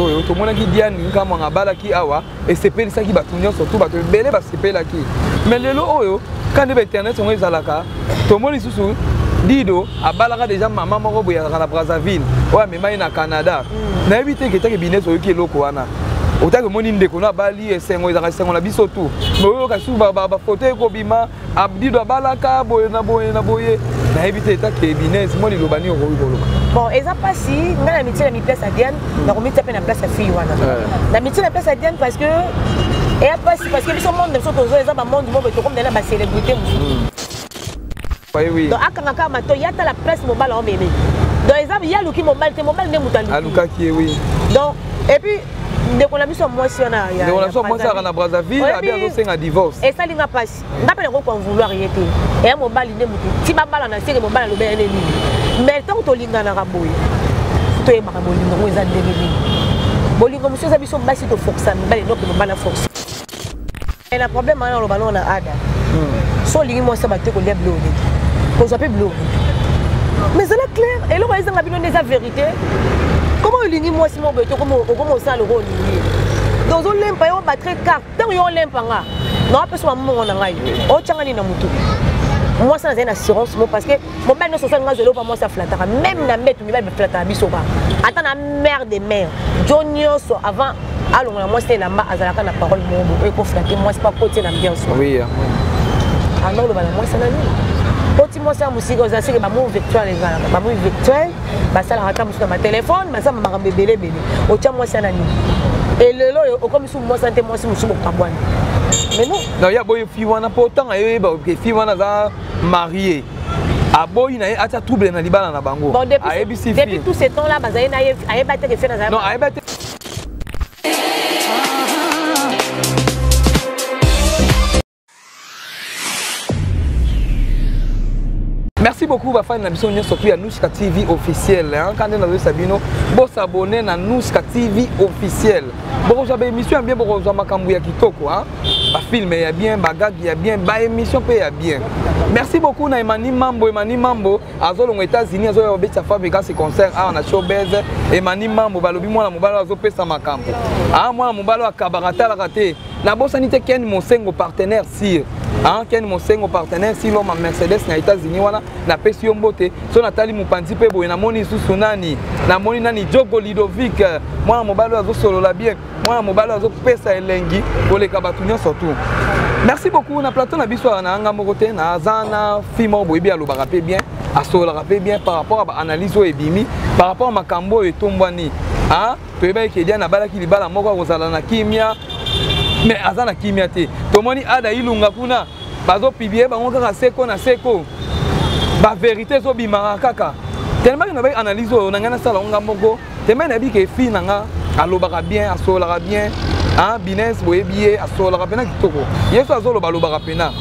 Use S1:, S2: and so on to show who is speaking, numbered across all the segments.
S1: oyo tomonaki diane nkamwanga abalaki awa esepelisaki bato nyonso to bato ebele basepelaki mais lelo oyo ka nde bainternet yango ezalaka tomoni lisusu dido abalaka deja mama moko boye azalaka na brazzaville oyo amema ye na canada mm. nayebi te ketake bines oyoki eloko wana otaki omoni ndeko na abali esengo ezalaka esengo na biso tu mais oyoka susu bafoto ekobima abdido abalaka boye na boye na boye nayebi te etake ebinez mwa liloba nini okoki koloba bon eza mpasi
S2: ngai na mitie na miplace ya diane hmm. nakomitia mpe na place ya fille wana eh. na mitie na place ya diane parce que eya mpasi parce que biso monde na biso tozo eza bamonde moko tokomela na bacélébrité mosusu hmm.
S1: donc akanga kaka mato ya
S2: tala place mobala omeme donc eza yaluki mobali te mobali nde moto alukaki ye wi
S1: donc et puis
S2: ndeko na biso ya mwasi wana ndeko na biso ya mwasi azalaka na
S1: brazzaville abi azosenga divorce esali nga mpasi
S2: nga mpe nakoki konvouloir ye te eya mobali nde motu ti babala na seke mobali aloba ya nde nini mais ntango tolinganaka boye toyebaka bolingo yango eza ndenge nini bolingo mosusu eza biso basi tofokisa mibali noke mobali aforce Et na problème wana oloba nao na ada hmm. so olingi mwasi abate kolia biloko nini kozwa mpe biloko mais ezala claire eloko ezanga bino nde eza vérité koma olingi mwasi moko boye te okoma osala loko olingi donc ozolempa yo obatre carte ntango yo olempa nga naopesa mamongo na ngai otyanga nini na motu mwasi nazali na assurance mo parce que mobali nyonso osali nga zelo pa mwasi aflataka meme na mbetu mibali baflataka biso ba ata na mare de mare jo nyonso avant alongola mwasi na elamba azalaka na parole moko bokoki koflate mwasi pa kotie na ambiance anga oloba na mwasi na nini oti mwasi ya mosika oza seke bamoi virtuel ezalaka bamoi virtuel basalaka ata mosusu na batelefone basamba makambo ebele ebele otya mwasi ya na nini elelo oyo okomisi mwasi ya nte mwasi mosusu bokabwana mais non non ya boye fi wana mpo
S1: otanga yo yeba fi wana aza marie aboyi na ye atia trouble na libala na bango ayebisi depuis
S2: tout ce temps là bazali na ye ayeba te ke fe nazali non ayeba te
S1: merci beaucoup bafani na biso nyonso mpe ya nuska tv officiel kande nazoyisa bino bosabone na nuska tv officiel bokozwa baémission ya bien bokozwa makambo ya kitoko a bafilme ya bien bagage ya bien baémission mpe ya bien merci beaucoup na emani mambo emani mambo azolonga états-unis azoya kobetisa fabricasi concert awa na showbez emani mambo balobi mwana mobali oyo azopesa makambo a mwana mobali oyo akabaka atalaka te nabosani te ken mosengo partenaire sire hein, ken mosengo partenaire si loma mercedes na états-unis wana napesi yo mbote so natali mopanzi mpe boye namoni lisusu nani namoni nani jogo lidovic mwana mobali oyo azosolola bien mwana mobali oyo azopesa elengi koleka bato nyonso tu merci beaucoup na plateau na biso awa na nga moko te naza na fi moko boyebi alobaka mpe bien asololaka mpe bien par rapport ya baanalyse oyo ebimi par rapport ya makambo oyo etombwani hein? toyebaki ke diane abalaki libala moko akozala na kimia me aza na kimia te tomoni ada ilunga kuna bazopiblie bango kaka seko na seko baverité ezobimaka kaka telemaki na bai analyse oyo na ngai nasala ngo nga moko telemaki nayebi ke fille na nga alobaka bien asololaka bien bines boyebi ye asololaka mpena kitoko yesu azoloba alobaka mpena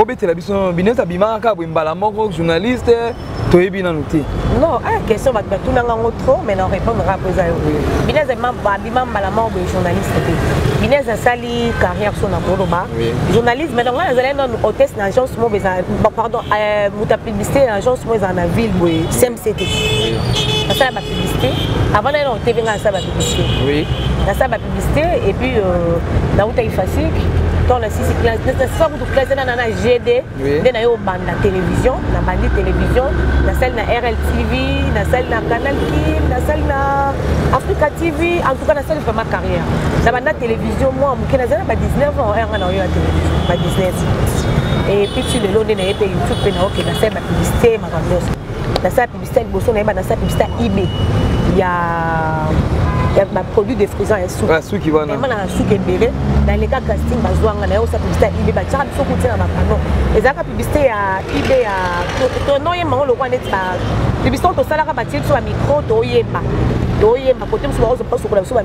S1: obetela biso nano bineti abimaka kaka boye mbala moko journaliste toyebi nanu te non aya ah, question
S2: bato batunanga yango trop mais na répondraka mpo eza yo binez abima mbala moko boye journaliste te binez asali carrière so na koloba journaliste mais donc ngai nazali nanu hôtesse na agence moko eza pardon euh, publicité ya agence moko ezala na ville boye cmct nasala bapublicité avant naye na tv ngai nasala bapublicité nasala
S1: bapublicité
S2: et puis euh, nautaki fasik ntango nasisi nasisa kutu classe nana na gd nde naye obanda télévision nabandi télévision nasali na rltv nasali na canal kin nasali na africa tv en tout cas nasali vraiment carrière nabanda télévision mwa que nazali na ba 19 ans yanga na oyo ya television ba 19 et puis tu lelo nde naye mpe youtube mpe naoke nasala bapublicité makambo nyonso nasala publicité liboso nayeba nasala publicité ib ya ya baproduit de frison ya suki vraiment na suki
S1: ebele
S2: naleka casting bazwanga naye osa publicité ib batiaka biso kutia na bapano ezalaka publicité ya ib ya tonoyemba yango lokola neti publicité oyo tosalaka batie biso bamicro toyemba toyemba kote mosusu baozopasokola biso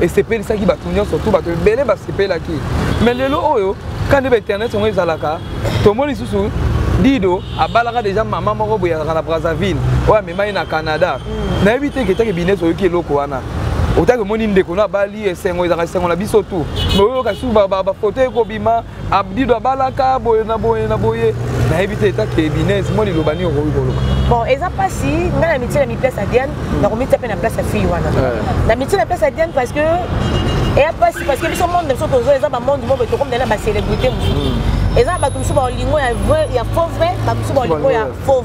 S1: esepelisaki bato nyonso to bato ebele basepelaki mais lelo oyo ka nde bainternet yango ezalaka tomoni lisusu dido abalaka deja mama moko boye azalaka na brazzaville oyo amema ye na canada mm. nayebi te ketake bines oyoki eloko wana otaki omoni ndeko no abali esengo ezalaka esengo na biso tu mais oyoka susu bafoto ekobima abdido abalaka boye na boye na boye nayebi te eta kebinese mwa liloba nini okoki koloba bon eza mpasi
S2: ngai na mitie na miplace ya diane hmm. nakomitia mpe na place ya fille wana eh. na mitie na place ya diane parce que eya mpasi parce que biso monde na biso tozo eza bamonde moko tokomela na bacélébrité mosusu hmm. eza bato mosusu baolingo ya faux vrai bato mosusu baolingo ya faux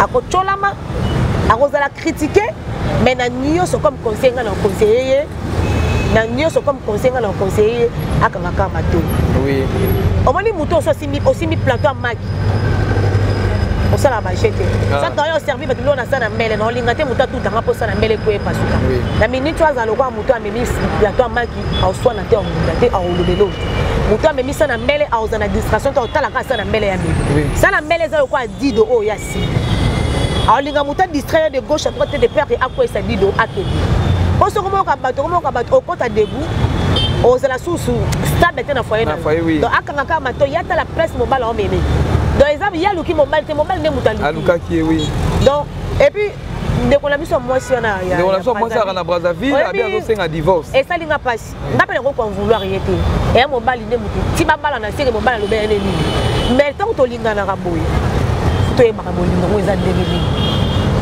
S2: akotyolama akozala kritike mai na nyonso comme conseil ngai na conseille ye na nyonso comme conseil ngai na conseille ye akanga kaka mato
S1: omoni moto
S2: oso osimbi plateau ya maki osala baje te ah. saka oyo oservi bato biloko nasa na mbele naolinga te moto atutanga mposa na mbele po epasuka na miniti oyo azala lokola moto amemi plateau amaki aoswana te aolinga te aolobelo moto amemisa na mbele aoza na distraction te aotalaka asa na mbele ya mimi sala mbele eza lokola dido oyo ya sida alinga moto adistraire de gauche à droite te de père ke akwesa dido akende mpo soki omoyoka bato okomoyoka bato okota debu ozala susu stable te na foye na donc akanga kaka mato ye atala presse mobala omeme donc eza ye aluki mobali te mobali nde moto alukaki oui
S1: donc epuis
S2: ndeko na biso ya mwasi wana ndeko na biso ya mwasi aka na
S1: brazzaville abi azosenga divorce esali nga mpasi
S2: nga mpe nakoki konvouloir ye te eya mobali nde motu ti babala na seke mobali alobi ya nde nini mais ntango tolinganaka boye toyebaka bolingo yango eza ndenge nini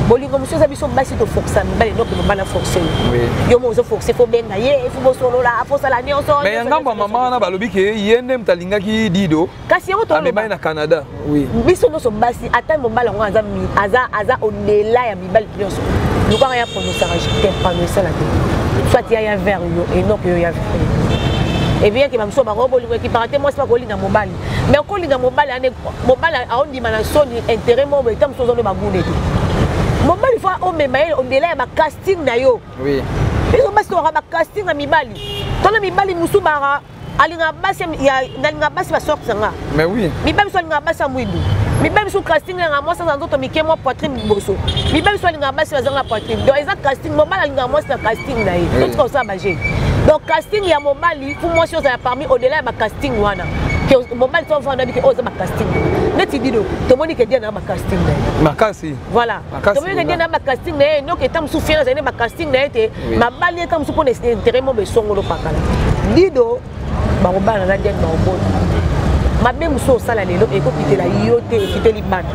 S2: bolingo mosusu eza biso basi toforsa mibali noke mobali aforse yo yo mo ozoforse fo benga ye fo bosolola fosala nyonso mais ya ngambo ya mama wana
S1: balobi ke ye nde moto alingaki dido kasi yango amemani na
S2: canada
S1: oui. biso nyonso basi
S2: ata mobali yango aza, aza, aza odela ya mibali nyonso lukanga ya pronosaka te pronosala te soit ya ya vert yo enok yo ya vert ebiyaki bamosusu bango bolingo ekipaka te mwasi bakolinga mobali mais okolinga mobali ane mobali aondima na soni intérêt moko boye ta mosusu ozoni bagunde te mobali fo omema ye ondela ya bacasting na yo biso
S1: basi tokaka
S2: bacasting ya mibali tona mibali mosusu baka alingaka basi nalingaka basi basorte na nga mais oui miba biso
S1: alingaka basi ya
S2: mwidu miba biso casting yanga mwasi aza nzoto mike mwa poitrine liboso miba biso alingaka basi bazanga poitrine donc eza casting mobali alingaka mwasi na casting na ye totika kosala baje donc casting ya mobali mpo mwasi ozala parmi au-delà ya bacasting wana ke mobali to vanda bike oyo oza bacasting neti dino tomoni ke diana na bacasting na ye makasi voilà
S1: toboyeke
S2: nde na bacasting na ye enoki eta mosusu fiere azali na bacasting na ye te mabali eta mosusu mpo na intere mo besongolo pakala dido bakobala na diane baobota mabe mosusu osala lelo ekokitela yo te ekiteli bana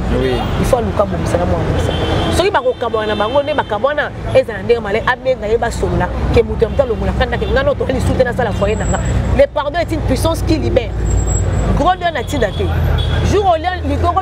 S2: ifo aluka bobisana mwana mosala soki bakokabwana na bango nde bakabwana ezala ndenge malai abenga ye basolola ke moto ya moto alongola kanda ke ngai notoka lisusu te nasala foye na nga le pardon est une puissance qui libère gros lion na ntina te jour olia ligongo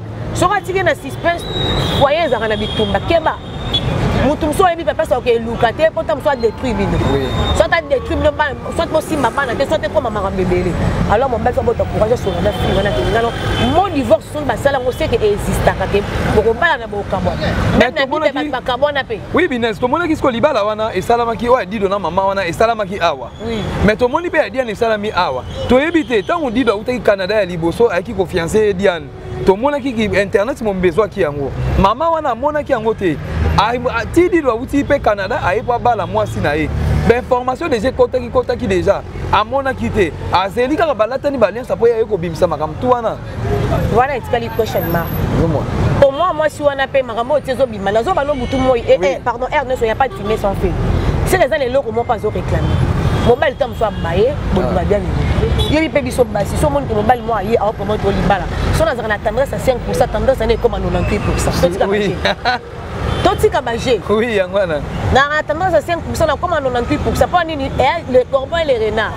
S2: soki atiki na suspense foye ezalaka na bitumba keba motu mosusu oyebi papa soki eluka te mpo ta mosusu adétruire bino soit adétruire bino bana soit bosimba bana te soit ekoma makambo ebele alors mobali fa bota courage asonga na fille wana tengano mo divorce soki basala yango seke existaka te bokobala na bokabwa meme na bino bato bakabwana mpe oui bines tomonaki siko
S1: libala wana esalamaki oyo ya dido na mama wana esalamaki awa mais tomoni mpe ya diane esalami awa toyebi te ntango dido autaki canada ya liboso ayaki kofiance ye diane tomonaki ki internet mombi ezwaki yango mama wana amonaki yango te tidilo awuti mpe canada aye mpo abala mwasi na ye bainformation deja ekotaki kotaki deja amonaki te azeli kaka balatani baliansa mpo yaye kobimisa makambo tu wana wana etikali
S2: question mark omwa mwasi wana mpe makambo oyo ti Mais nazo balo butu moi eh, eh pardon R ne soyez pas fumé sans feu. C'est les années loko moi pas au réclamer. Mobile tam soit baye, bon va bien ni. Yo pe biso basi, so mon ko mobile moi ye au comment to libala. So na zana tendresse à 5%, tendresse à ne comme 98%. Oui. totika baje oui yango wana na tendance à 5 na koma 98 mpo nini eh, le corbeau et le renard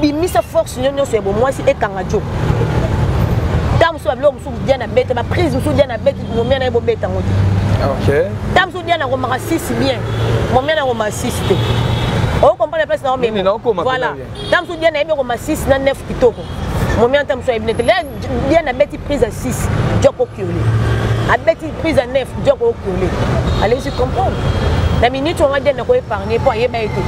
S2: bimisa force nyo nyonso ya bomwasi ekanga jo ntango mosusu babiloko mosusu dia na bete baprise mosusu dia na bete momia na ye bobeta yango te ntango mosusu dia na komaka sisi bien momia na komaka sisi te okomprendre place na omema voilà ntango mosusu dia na yebi okomasisi na nef kitoko momia ntango mosusu ayebi nete bien abeti prise ya 6 joko okiole abeti prise ya 9 joko okiole alesi comprendre na minute wana diane nako épargne mpo ayeba ye te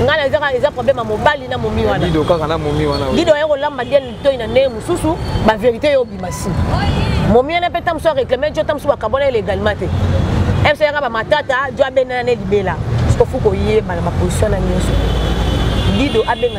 S2: ngai ezaka eza problème ya mobali na momi wana dido kaka na momi wana dido aye kolamba diane litoi na ndenge mosusu bavérité yo obima si momi wana mpe ntango mosusu aréclame jo ntango mosusu bakabona ye légalement te mso yaka bamatata jo abenana ne libela sikofuka oyebana baposition na nyonso dido abenga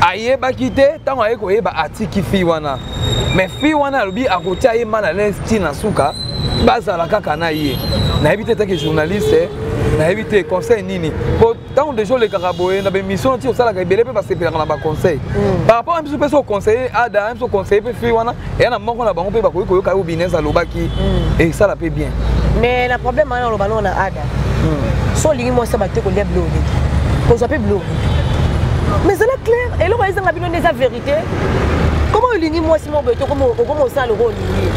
S1: ayebaki te ntango aye koyeba atiki fille wana mais fille wana alobi akotia ye mal à l'aise ti na suka bazala kaka na ye nayebi te etaki journaliste nayebi te conseil nini po ntango deja olekaka boye na bemission ti osalaka ebele mpe basepelaka na baconseil mm. par rapport ya biso mpe so oconseille ada ya biso oconseille mpe fille wana eya na moko na bango mpe bakoki koyoka yo binez alobaki mm. esala mpe bien mais na problème
S2: wana oloba nao na ada mm. so olingi mwasi abate kolia bilo oleki kozwa mpe bilo mais ezala claire eloko ezanga bino nde eza vérité koma olingi mwasi moko boye tokoma osala loko olingi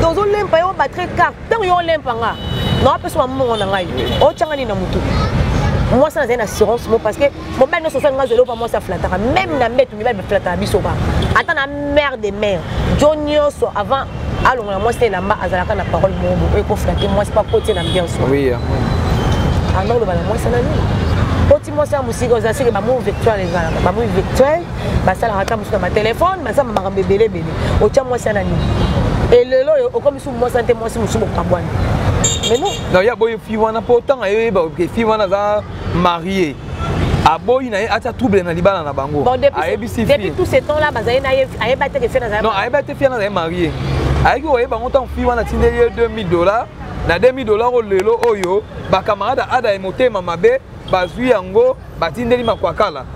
S2: donc ozolempa yo batre carte ntango yo olempa nga naopesa mamongo na ngai otyanga nini na motu mwasi nazali na assurance mo parce que mobali nyonso osali nga zelo pa mwasi aflataka meme na mbetu mibali baflataka biso ba ata na mare de mare jo nyonso avant alongola mwasi na elamba azalaka na parole moko bokoki koflate mwasi mpo akotie na ambiance anda oloba na mwasi na nini oti mwasi ya mosika oza seke bamoi virtuel ezalaka bamoi virtuel basalaka ata mosusu na batelefone basala makambo ebele ebele otya mwasi ya na nini elelo oyo okomisi mwasi ya te mwasi mosusu bokabwani non ya boye fi wana mpo otanga yo yeba fi wana aza marie aboyi na ye atia trouble na libala na bango ayebisi depuis tout ce temps là bazali na ye ayeba te ke fie nazali non ayeba te fie nazali
S1: marie ayaki koyeba yango ntango fie wana atindeli ye 2000 dollars na 2000 dollars oyo lelo oyo bakamarade ada ye motema mabe bazwi yango batindeli makwakala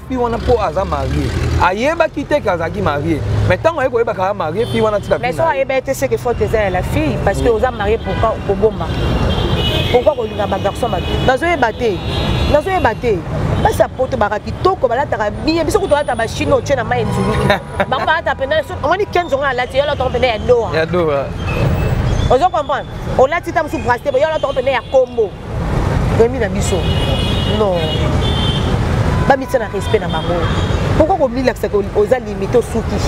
S1: fille wana mpo aza marie ayebaki te ke azalaki marie mais ntango aye koyeba kaka marie fille wana tika mais so ayeba ye te seke
S2: faute eza ya la fille parce que oza marie pourquoi koboma pourquoi kolinga bagarçon bato nazoyeba te nazoyeba te basi ya poto baka kitoko balataka biye biso kutu balata bashine otye na mai etuluki bango balata mpena omoni kenzo ngo alati yo alataka mpena ya doha
S1: ozo
S2: comprendre olati ta mosusu braste yo alataka mpena ya kombo Remi na biso non bamitia na respect na bango pourkoi komilakisa oza limite osuki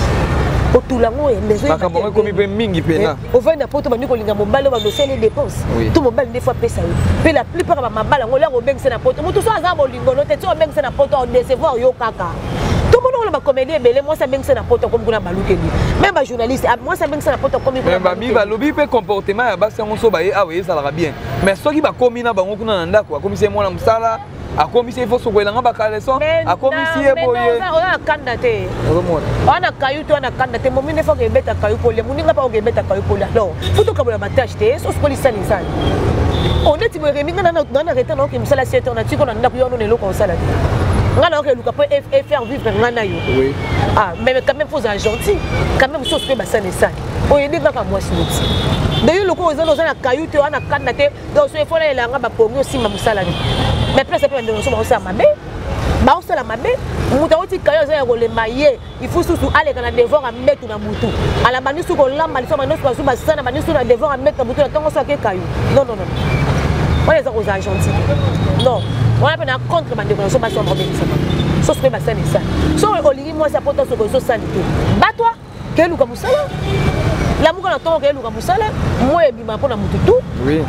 S2: otula yango makambo yango ekomi mpe mingi
S1: mpena eh, ovandi na poto bandi kolinga
S2: mobali oyo bandoseli dépense to mobali nde fo apesa yo mpe la plupart ya bamabala yango olyango obengisa na poto motu so aza bolingono te ti obengisa na poto odecevoir yo kaka tomoni oyo bakomedi ebele mwasi abengisa na poto akomi kuna balukeli meme bajournaliste ah, mwasi abengisa na poto akomi kuna balobi mpe
S1: comportement ya basi yango so baye awa ezalaka bien mais soki bakomi na bango kuna na ndako akomisi ye mwana mosala akomisi ye foso koyelanga bakaleson akomisi ye boyeoza kanda te
S2: wana kayu te wana kanda te momi nde foka ebeta kayu pole moninga mpa oka ebeta kayu pole alors fo tokabola batashe te soso kolisani nsani oneti boye remi nga nana reta naoke mosala siete ona tiko na ndako yo anona eloko osala te nga nayoka eluka mpo efaire vivre nga na yo ah
S1: mais quand
S2: même fo ozala gentil quand même soso mpe basani esani oyede kaka mwasi neti deyo lokola oza oza na kayu te oza na kanda te donc soki efola elanga bapongi osimba mosala ni mais place mpe bandeko mosusu bakosala mabe baosala mabe moto akotika yo aza ya kolemba ye ifu susu aleka na devoir ya mbetu na motu ala bandi susu kolamba liso bandi susu bazwi basala na bandi susu na devoir ya mbetu na motu na ntongo so akeka yo non non non wana eza kozala gentil non wana mpe na contre bandeko na so basi ya mobekisama sosi mpe basali esali so olingi mwasi apota soko ezosali te batwa keluka mosala lamuka na ntongo keluka mosala moi ebima mpo na motu tu oui.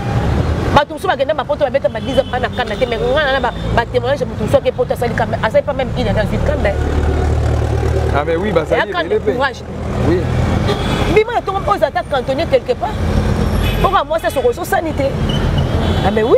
S1: bato mosusu
S2: bakenda mapoto babeta badisa mpa na kanda te mai ngana na batémoignage motu mosusu ake poto asali asali mpa meme ina dans une kanda ah
S1: mais oui bazali courage oui bima
S2: na ntongo mpo oza ata cantonnier quelque part mpo ka mwasi asokososani te ah mais oui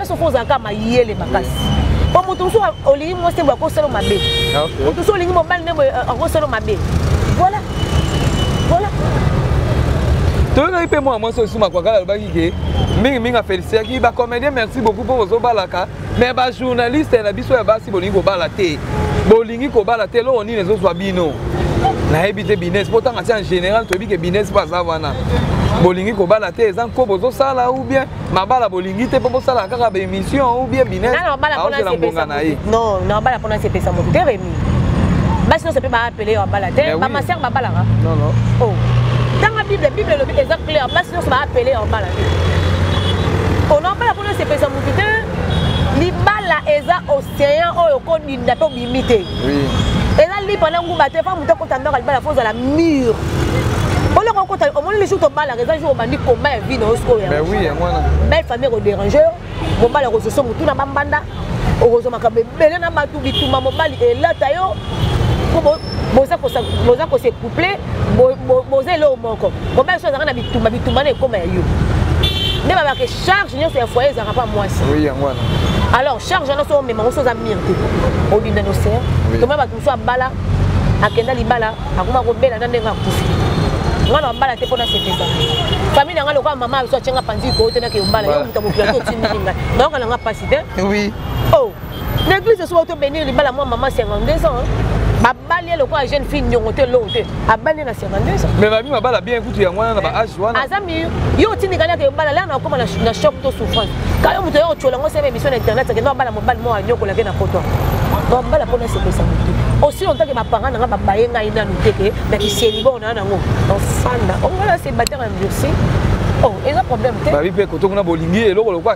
S2: soki ozalaka mayele makasi po moto mosusu olingi mwasi boye akosala mabe ah, moto mosusu olingi mobali nde boye euh, akosala mabe voilà voilà
S1: toyokaki mpe mwana mwasi osusu makwakala alobaki ke mingimingi afelisiyaki bacomédien merci beaucoup mpo bozobalaka mais bajournaliste na biso ya basi bolingi kobala te bolingi kobala te eloko nini ezozwa bino nayebi te bines mpo ntango ati en général toyebi ke bines mpo aza wana bolingi kobala te eza nko bozosala ou bien mabala bolingi te mpo bosalaka kaka baémission ou bien bineaozela mbonga na ye
S2: non na mabala mpona sepesa moto te remi basi nyonso mpe baapele yo abala te bamaser babalaka oh. tanga bible bible elobi eza clair basi nyonso baapele yo abala te ona oh, abala mpona sepesa moto te libala eza océan oyo okodinda mpe imi te
S1: eza lipa na
S2: ngumba te mpo moto akota ndako alibala fo ozala mur oloko okota omoni lisusu tobalaka eza jour obandi komba ya vi na yo sikoyo belle
S1: famille ekoderange
S2: yo mobali akozoso motu na bambanda okozwa makambo ebele na bato bituma mobali elata yo mpo boza kose couple boza eloko moko mobali so azalaka na bitumba bitumba na ekoma ya yo nde babaka charge nyonso ya foyer ezalaka mpa mwasi oui yango wana
S1: alors charge
S2: wana so omema ngo so oza mire te obinda na océan toma bato mosusu abala akenda libala akoma kobela na ndenge akufi nga na bala te mpo nasepesa famille na nga lokola mama biso atyenga panzi ikoo te nakeyobala yo moto ya mokili ati otindiki ngai nayoka na nga mpasi te oui oh. na eglise soki to benir libala mwa mama 52 ans babali ye lokola jeune fille nyongo te eloko te abali ye na 52 ans mais babi mabala bien
S1: kutu yango wana na ba age wana aza mi yo otindikani
S2: ake obala lana okoma na choc to souffrance ka yo moto ya kotyola ngo sema émission na internet akende abala mobali moko anyokolake na poto bambala mpo nasekwisa motu osi ontake bapanga na nga babaye ngai nanu te ke na kisieli bao naa nango ofanda ongola se batere endurci oh eza problème te babi mpe kotongo na bolingi
S1: eloko lokola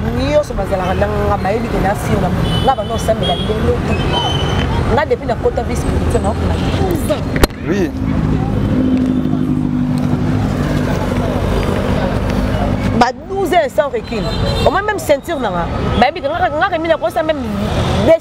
S2: nyonso bazalaka nanga bayebi ke nafinga nga banda osambela lelo te nga depuis nakota vie spirituel naokona 12 ans oui ba 12 ans sans recul omoi même ceinture nanga bayebi ke ngaka ngaka mina kosa même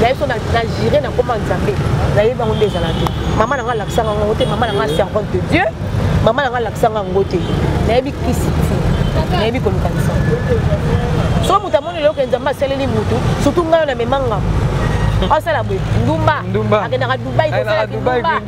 S2: naye so na jure na koma nzambe nayebi yango nde ezala te mama na ngai alakisanga yango te mama na ngai servante de dieu mama na ngai alakisanga yango te nayebi kisi ti nayebi kolukanisa so moto amoni eloko nzambe asaleli motu surtout ngai oyo namemanga asala boye ndumba akendaka dubai kosala kindumba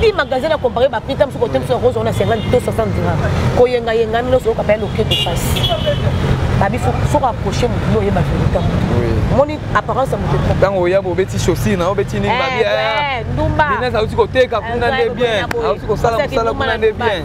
S2: li magasin na compare bapita mosuku ote mosuku yango ozona 50 to 60 dira koyengayenga mino soyoka paya loketo pasi babi foko approche motu no oyeba verita motu moni apparence ya motu ntango oya bobeti
S1: chaussure na obeti nini eh, babi eh, eh, ndumba auti
S2: koteka
S1: kuna nde bien auti kosala mosala kuna nde bien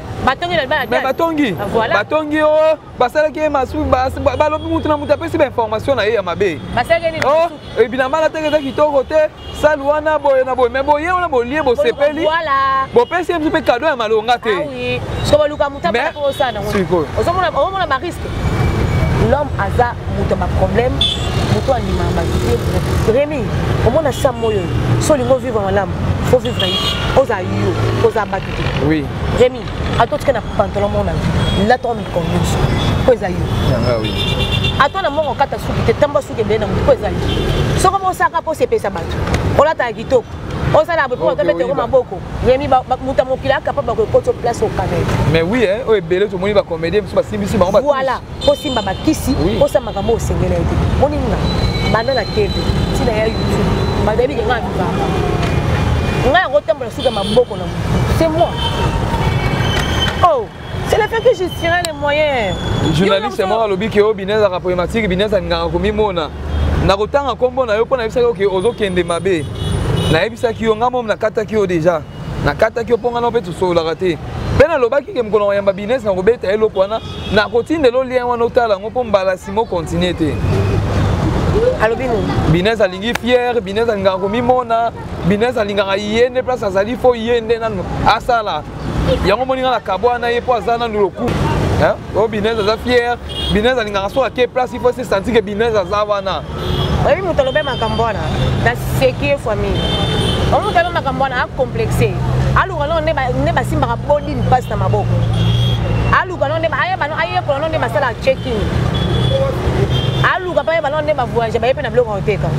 S1: batongi na libala
S2: mais batongi voilà.
S1: batongi o oh, basalaki ye masu balobi mutu na mutu apesi bainformation na ye ya mabe o oh,
S2: ebinamala teke
S1: eza kitoko te sale wana boye na boye mais boye wana bolie bosepeli bopesi ye
S2: biso mpe kado
S1: ya malonga te
S2: ozomona bariske l'homme aza moto ya baproblème moto andimaka bato te remi omona sa moyo oyo so olingi ovivre malamu fo vivre ye oza yo oza bato Oui. Rémi,
S1: à
S2: toi tu as pantalon mon ami. Là tu as mis comme nous. Quoi ça y est Oui.
S1: À toi na mongo
S2: kata suki te tamba suki bien na quoi ça y est. Soko mo saka po sepe sa batu. Ola ta kitoko. ozala boye mpo tobete yango maboko yemi moto ya mokili akapable kokoto place okanete mais oui oyo
S1: ebele tomoni bacomédien mosusu basimbisi bango voilà osimba
S2: bakisi osala makambo osengeli ete moni nga banda na tv ntina ya youtube bato yayebi ke ngai mibaka ngai yango otambola suka ya maboko na motu c'est moi oh c'est le fait que je tirais les moyens journaliste moko
S1: alobi ke o binez aka problématique binez alingaka komimona na kotanga nkombo na yo mpo nayebisaki oke ozokende mabe nayebisaki yo ngai momi nakataki yo déjà nakataki yo mpo ngai na mpe tosololaka te mpe nalobaki ke mokolo mayamba bines na kobeta ye eloko wana nakotindela olien wana otala yango mpo mbala simo continue te
S2: alobi nini bines
S1: alingi fiere bines alingaka komimona bines alingaka ye nde place azali fo ye nde nanu asala yango moninga na kabwana ye mpo aza nanu lokumu oyo binez aza fier binez alingaka soki ake place il faut se sentir ke binez aza wana oyebi moto
S2: alobe makambo wana na sekie famille oyo moto alobe makambo wana acomplexe aluka noo nde basimbaka boli mpasi na maboko aluka noo nde ayeba no ayekola noo nde basalaka checking aluka mpe ayeba noo nde bavoyage baye mpe na biloko koteka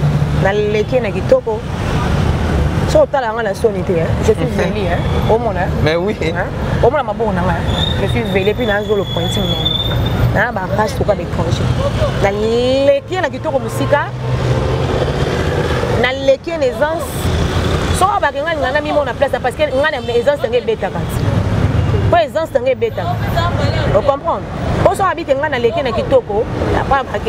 S2: naleki na kitoko so otala yanga na soni te je suis zeli omona mais oui
S1: omona maboko
S2: na ngai je suis vele mpe nazo le pointi monene naa bapage toka baétranger naleki na kitoko mosika naleki na aisance soko bake ngai ngai namimona place parce que ngai na aisance yango ebetaka ti mpo aisance yango ebetaka ocomprendre mpo soki abite ngai naleki na kitoko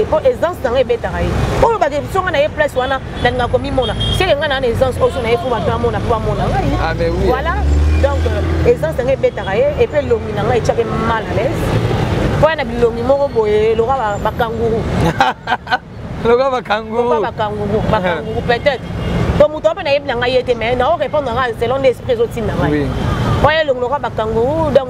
S2: mpo aisance yango ebetaka ye mpo olobake songa na ye place wana nalinga komimona seke ngai naa na essence oyo so na ye mpo bato amona mpo bamona ngai ah, voilà
S1: donc
S2: euh, essence na ngai ebetaka ye epe elongi na ngai etyake mal à l'aise mpo ya na bilongi moko boye loka bakanguru
S1: loka bakanguru bakanguru
S2: bakanguru peut-être to moto mpe nayebi na ngai ye te mais nao répondre ngai selon nde esprit ezotinda ngai mpo ye elongi
S1: loka
S2: bakanguru donc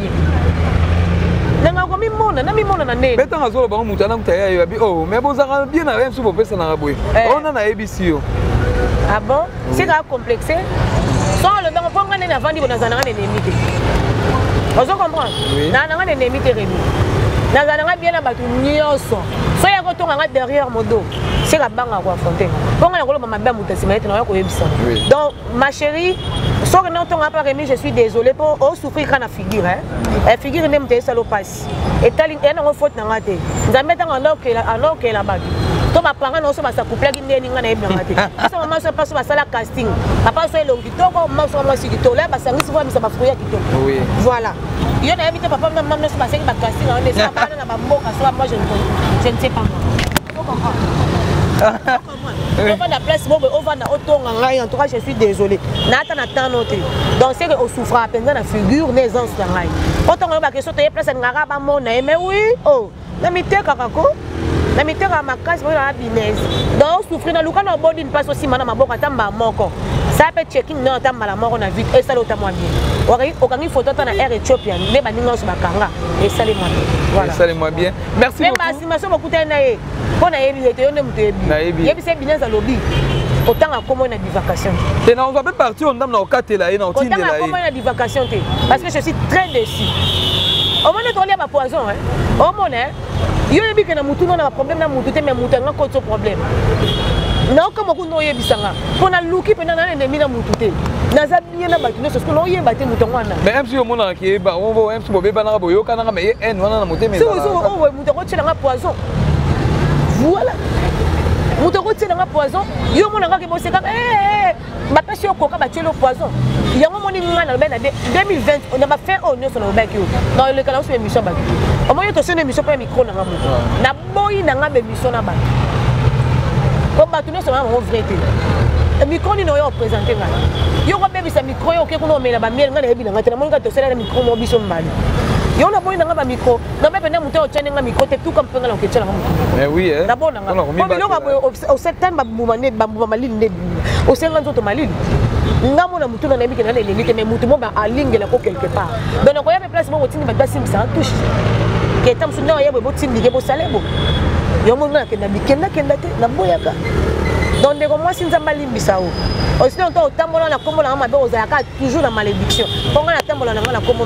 S2: nanga komimona namimona na ndenge betanga azoloba ngo moto anakuta
S1: ya yo abi o oh, mais bozalaka bien na msu bopesanaka boye eh. ona oh, nayebisi yo ah bon
S2: sika acomplexe so alobango mpo nga nde navandi bo nazala nanga nenemi te ozo comprendre na nanga nenemi te rebi nazala nanga bien na bato nyonso so ya kotonga nga derrière modo sika banga koaffronte mpo nga nakoloba mabe ya moto nsima ete naoya koyebisa donc ma chérie soki nde otonga mpe remi je suis désolé mpo osouffrir kaka na figure e figure nde moto esala opasi etali eya nango faute na ngai te nzambe ntango anokela bato to bapanga na oso basakuplaki ndeni ngai nayebi nanga te biso mama so paso basala casting papa so elongi kitoko mama so mwasi kitoko la basangisi voamisa bafruit ya kitoko voilà yo nayebi te papa mama nyonso basengi bacasting yango nde esabana na bamboka so moi je ne sais pas moi ovanda place bobo ovanda otonga ngai en tout cas je suis désolé naata na temps no te donc seke osouffraka mpenza na figure na aisance na ngai otonga yo bakesio toye place alingaka bamona ye mais oui o oh, na mitekaka ko na mitekaka makasi boyela na binese donc osouffri na luka na obodi mpasi osimba na maboko ata mbaa moko saa mpe checking nayo ata mbala moko na vite esali ota mwa bien okangi foto ata na air ethiopia nde baninga nyonso bakanga esali mwa bien esali mwa bien merci beaucoup mais basi maso bokutani na ye mpo nayebi ye te yo nde moto yebi yebisa ye bineza alobi otanga kombo na bivacation te te nakozwa mpe parti oyo ndambo na kokatela ye na kotindela ye otanga kombo na bivacation te parce que je suis très déçu omoni ete olia bapoison omona yo oyebi ke na motu no na baproblème na motu te mais moto yanga kotso problème naokamwa kuna oyebisa nga mpo naluki mpenza na enemi na motu te naza bien na bato nyonso sikoyo oyeba te moto yango wana mais mc omonaka keyeba mc bobebanaka boyokanaka mais ye haine wana na motema moto akotyela nga poison voilà moto akotyela nga poison yo omona nga keboseka eh, eh, eh. bapesi yo koka batyeli yo poison yango omoni nga nalobaki na 2020 na bafin oyo nyonso nalobaki yo naoleka na oso bemission bato omoni tosoni emission mpo ya mikro na nga moto naboyi na nga bemission na bato po bato nyonso bana bango vrai te mikro nini oyo opresente ngai yo kobebisa mikro yo oke kuna omela bamiele ngai nayebi na ngai te namoni kaka tosala na mikro moko biso mbali yo naboyi na ngai bamikro na mpe pene moto otyani nga mikro te tuka mpe nga na koketyela nga moto nabona nga po biloko boye osetani bambuma nde bambuma malili nde osenga nzoto malili nga mona motu na nayebi kena na eleli te mai motu mo alingela ko quelque part donc nakoya mpe place moko otindi bato basimbisa touche keta mosusu nde oyebwe botindike bosale bo yango nga nakenda bikendakenda te naboyaka donc ndeko mwasi nzambe alimbisa o osino nto otambola na nkombo na nga mabe ozalaka toujours na malédiction mpo ngai natambola na ngai na nkombo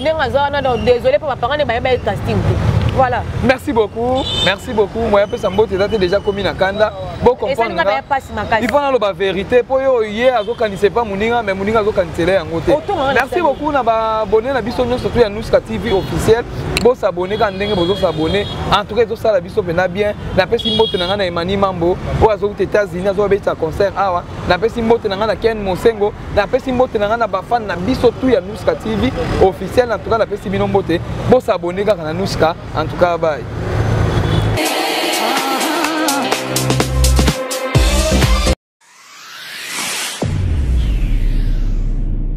S2: ndenge aza wana donc désolé mpo bapanga ne bayeba ye casting te voilà merci beaucoup merci beaucoup moya pesa mbote eza te déjà komi na kanda bocomprendreifo naloba vérité mpo yo ye azokanisa epa moninga mais moninga azokanisela yango te merci beaucoup na babone na biso nyonso surtout ya nuska tv officiel bosabone kaka ndenge bozosabone en tout cas ezosala biso mpenza bien napesi mbote na ngai na emani mambo oyo azouta états-unis azobabetisa concert awa napesi mbote na ngai na ken mosengo napesi mbote na ngai na bafane na biso tu ya nuska tv officiel na tuka napesi bino mbote bosabone kaka na nuska en tout cas bye